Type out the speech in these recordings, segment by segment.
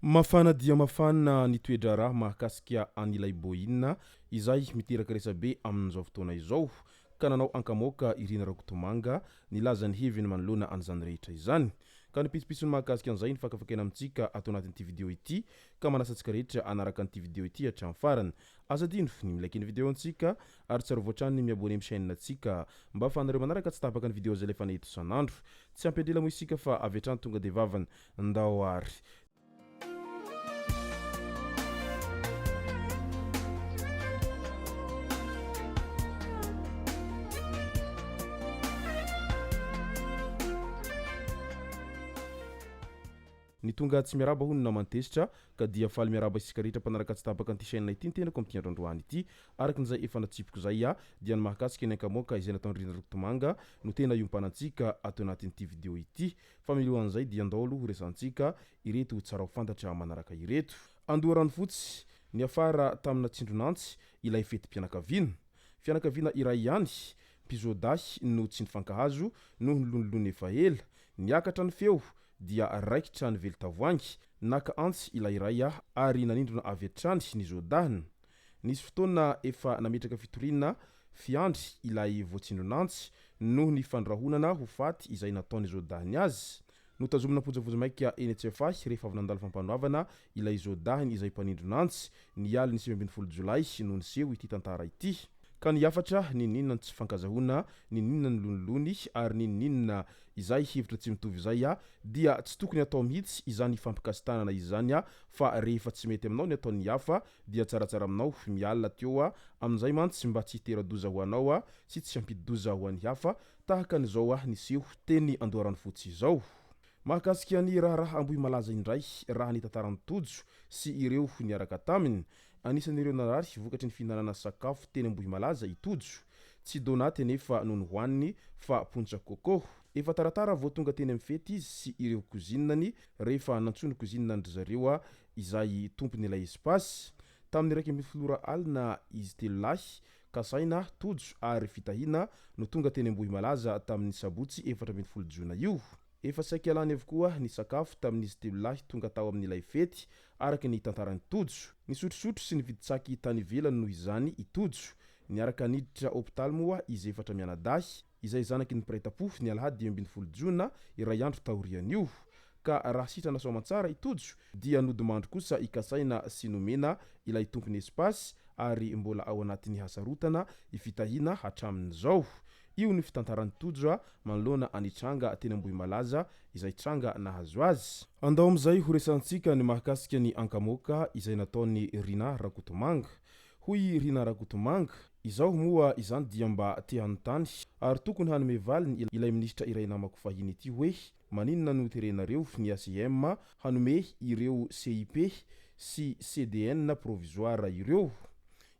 Mafana dia mafana ny toe-draharaha mahakasika an'ilay Boina izay miteraka resabe amin'izao fotoana izao. ka nanao ankamoaka i Rina Rakotomanga nilaza ny heviny manoloana an'izany rehetra izany. Ka ny pitsopitsony mahakasika an'izay no fakafakaina amintsika ato anatin'ity video ity ka manasa antsika rehetra hanaraka an'ity video ity hatramin'ny farany. Aza adino ny mi-like ny video antsika ary tsarovy hatrany ny mi-abonner amin'ny chaîne antsika mba afahanareo manaraka tsy tapaka ny video zay alefanay eto isan'andro. Tsy ampy an-drela moa isika fa avy hatrany tonga dia vavany ndao ary. Ny tonga tsy miarahaba hono naman-tezitra, ka dia faly miarahaba isika rehetra mpanaraka tsy tapaka an'ity chaîne ity ny tenako amin'ity andro androany ity. Araka n'izay efa natsipiko izay aho, dia ny mahakasika ny ankamoaka izay nataon'i Rina Rokitomanga no tena iompanantsika ato anatin'ity video ity. Fa miloha an'izay dia andao aloha horesahantsika ireto ho tsara ho fantatra manaraka ireto. Andoharanofotsy, Niafara tamina tsindron'antsy ilay fetim-pianakaviana. Fianakaviana iray ihany, mpizoadahy no tsy nifankahazo noho ny lonilony efa ela. Niakatra ny feo dia raikitra ny velin-tavoahangy. Naka antsy ilay iray ary nanindrona avy hatrany ny zoadahiny. Nisy fotoana efa nametraka fitoriana fiandry ilay voatsindron'antsy noho ny fandrahonana ho faty izay nataon'izao dahiny azy. Notazomina am-pojavoja maika eny Tsiafahy rehefa avy nandalo fampanoavana ilay zo dahiny izay mpanindron'antsy, ny alin'ny sivy ambin'ny folo jolay no niseho ity tantara ity. Ka ny hafatra, n'inon'inona ny tsy fankazahoana, n'inon'inona ny lonilony ary n'inon'inona izay hevitra tsy mitovy izay, dia tsy tokony hatao mihitsy izany fampikasi-tanana izany fa rehefa tsy mety aminao ny ataon'ny hafa Dia tsaratsara aminao miala aty eo amin'izay mantsy mba tsy hitera-doza ho anao sy tsy hampidi-doza ho an'ny hafa tahaka an'izao niseho teny Andoharanofotsy izao. Mahakasika ny raharaha Ambohimalaza indray raha ny tantaran'i Tojo sy ireo niaraka taminy. Anisan'ireo narary vokatry ny fihinanana sakafo teny Ambohimalaza i Tojo. Tsy donaty anefa no nohaniny fa pontsa coco. Efa taratara vao tonga teny amin'ny fety izy sy ireo kozinany rehefa nantsoiny kozinina an-dry zareo izay tompon'ilay espace, tamin'ny iraika ambin'ny folo ora alina izy telo lahy, Kasaina, Tojo ary Fitahiana, no tonga teny Ambohimalaza tamin'ny sabotsy efatra ambin'ny folo jona io. Efa saika lany avokoa ny sakafo tamin'izy telo lahy tonga tao amin'ilay fety, araka ny tantaran'i Tojo. Nisotrosotro sy nividy tsaky tany ivelany noho izany i Tojo. Niaraka niditra hopitaly moa izy efatra mianadahy. izay zanaky ny mpiray tam-pofo ny alahady dimy ambin'ny folo jona iray andro taorian'io, ka raha sitrana soamantsara i Tojo dia nodimandry kosa ikasaina sy nomena ilay tompony espace ary mbola ao anatin'ny hasarotana i Fitahiana hatramin'izao. Io ny fitantaran'i Tojo manoloana an'i Tranga teny Ambohimalaza izay tranga nahazo azy. Andao amin'izay ho resahantsika ny mahakasika ny ankamoaka izay nataon'i Rinah Rakotomanga. Hoy i Rinah Rakotomanga, Izaho moa izany dia mba te hanontany ary tokony hanome valiny ilay minisitra iray namako fahiny ity hoe maninona no terenareo ny ACM hanome ireo CIP sy CDN provisoire ireo?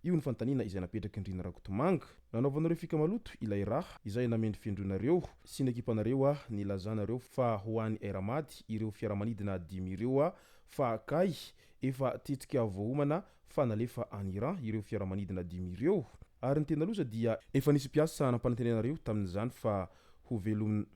Io ny fanontaniana izay napetrak'i Ndrina Rakotomanga. Nanaovanareo fika maloto ilay raha izay namendrofendroinareo sy ny ekipanareo nilazanareo fa ho an'i RAmady ireo fiaramanidina dimy ireo fa kay efa tetika voaomana fa nalefa any Iran ireo fiaramanidina dimy ireo ary ny tena loza dia efa nisy mpiasa nampanantenana reo tamin'izany fa ho velomina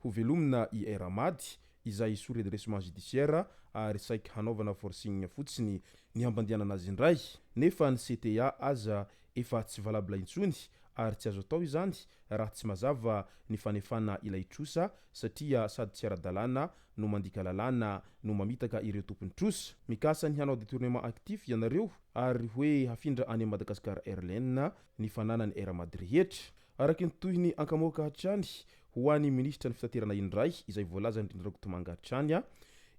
ho velomina i Air Ahmad izay sous redressement judiciaire ary saiky hanaovana forcing fotsiny ny hampandehanana azy indray nefa ny CTA aza efa tsy valable intsony ary tsy azo atao izany raha tsy mazava ny fanefana ilay trosa satria sady tsy ara-dalàna no mandika lalàna no mamitaka ireo tompon'ny trosa mikasa ny hanao detournement actif ianareo ary hoe hafindra any Madagascar Airlines ny fananany Air Mad rehetra araky ny tohiny ankamoaka hatrany ho any ministra ny fitaterana indray izay voalazan'dry Rakotomanga hatrany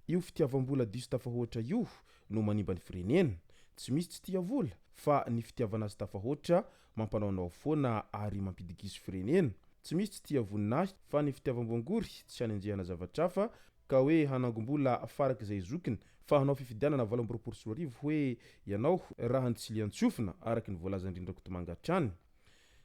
io fitiavam-bola diso tafahoatra io no manimba ny firenena tsy misy tsy tia vola fa ny fitiavana azy tafahoatra Mampanaonao foana ary mampidigiso firenena. Tsy misy tsy tia vonona ahy fa ny fitiavam-boangory, tsy hanenjehana zavatra hafa ka hoe hanangom-bola farak'izay zokiny fa hanao fifidianana valo amby roapolo sy roa arivo hoe ianao raha ny tsilian-tsofina araka ny voalazan-dry Ndrakotomanga hatrany.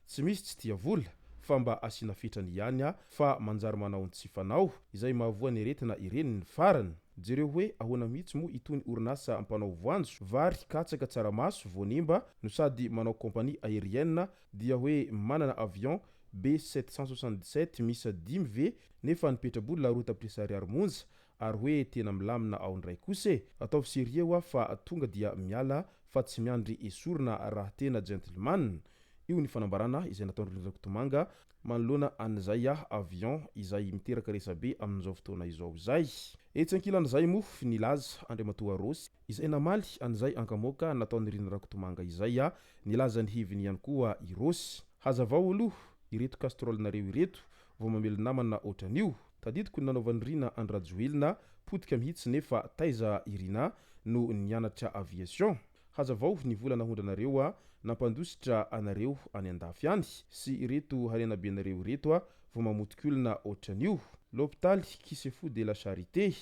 Tsy misy tsy tia vola fa mba asiana fetrany ihany aho fa manjary manao ny tsy fanao, izay mahavoa ny aretina ireny ny farany. Jereo hoe ahoana mihitsy moa itony orinasa mpanao voanjo, vary, katsaka, tsaramaso, voanemba no sady manao compagnie aérienne dia hoe manana avion B sept cent soixante-dix-sept miisa dimy ve nefa ny petraboly la route tapitrisa ariary monja ary hoe tena milamina ao indray kosa e! Ataovy serieux hoa fa tonga dia miala fa tsy miandry esorina raha tena gentleman! Io ny fanambarana izay nataon-dry Rakotomanga Manoloana an'izay a avion izay miteraka resabe amin'izao fotoana izao izay. Etsy ankilan'izay moa nilaza Andriamatoa Rossy izay namaly an'izay ankamoaka nataon'i Rina Rakotomanga izay a, nilaza ny heviny ihany koa i Rossy. Hazavao aloha ireto castrolenareo ireto vao mamely namana ohatran'io. Tadidiko ny nanaovan'i Rina an-dRajoelina potika mihitsy nefa taiza i Rina no nianatra aviation? Hazavao ny vola nahondranareo a, nampandositra anareo any andafy any sy ireto harenabenareo ireto a, vao mamotikolona otran'io. Lopitaly Kisefu de la Charite,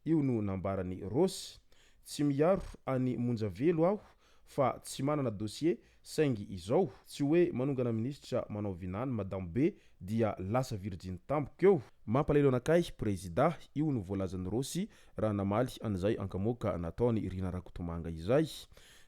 io no nambaran'i Rose. Tsy miaro an'i Monja Velo aho fa tsy manana dossier saingy izao, tsy hoe manongana minisitra manao vinany madame be dia lasa virjiny tampoka eo. Mampalahelo anakay prezida, io no voalazan'i Rose Raha namaly an'izay ankamoaka nataon'i Rina Rakotomanga izay.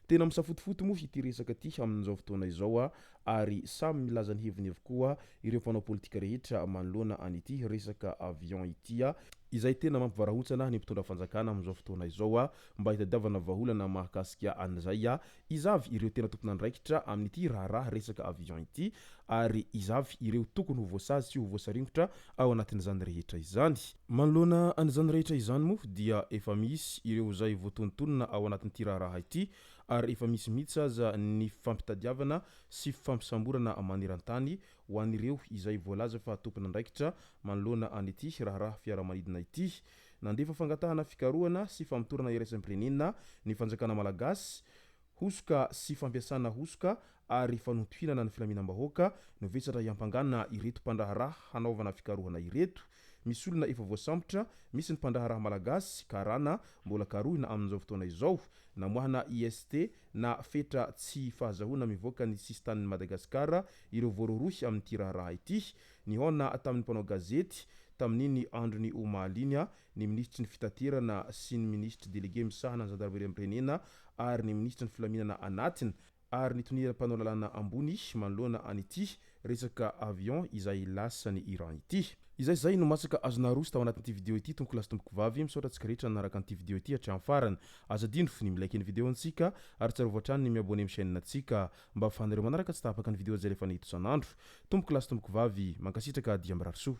Tena misafotofoto moa ity resaka ity amin'izao fotoana izao ary samy milaza ny heviny avokoa ireo mpanao politika rehetra manoloana an'ity resaka avion ity izay tena mampivarahontsana ny mpitondra fanjakana amin'izao fotoana izao mba hitadiavana vahaolana mahakasika an'izay Iza avy ireo tena tompon'andraikitra amin'ity raharaha resaka avion ity ary iza avy ireo tokony ho voasazy sy ho voasaringotra ao anatin'izany rehetra izany? Manoloana an'izany rehetra izany moa dia efa misy ireo izay voatonontonona ao anatin'ity raharaha ity ary efa misy mihitsy aza ny fifampitadiavana sy fifampisamborana maneran-tany ho an'ireo izay voalaza fa tompon'andraikitra manoloana an'ity raharaha fiaramanidina ity Nandefa fangatahana fikarohana sy famotorana iraisam-pirenena ny fanjakana malagasy, hosoka sy fampiasana hosoka ary fanontohinana ny filaminam-bahoaka no vesatra hiampangana ireto mpandraharaha hanaovana fikarohana ireto. Misy olona efa voasambotra, misy ny mpandraharaha malagasy, karana, mbola karohina amin'izao fotoana izao. Namoahana IST na fetra tsy fahazahoana mivoaka ny sisin-tanin'i Madagasikara ireo voarohirohy amin'ity raharaha ity. Nihaona tamin'ny mpanao gazety, tamin'iny andron'ny omaly iny, ny minisitry ny Fitaterana sy ny minisitry delege misahana ny zandarimariam-pirenena ary ny minisitry ny Filaminana Anatiny ary ny toniran'ny mpanao lalàna ambony manoloana an'ity resaka avion izay lasan'i Iran ity. Izay izay no masaka azonao aroso tao anatin'ity video ity tompokolahy sy tompokovavy, misaotra antsika rehetra nanaraka an'ity video ity hatramin'ny farany. Aza adino ny mi-like ny video antsika ary tsarovy hatrany ny mi-abonner amin'ny chaîne antsika. Mba afahanareo manaraka tsy tahapaka ny video jerefana eto isan'andro. Tompoko lahy sy tompoko vavy, mankasitraka dia mirary soa.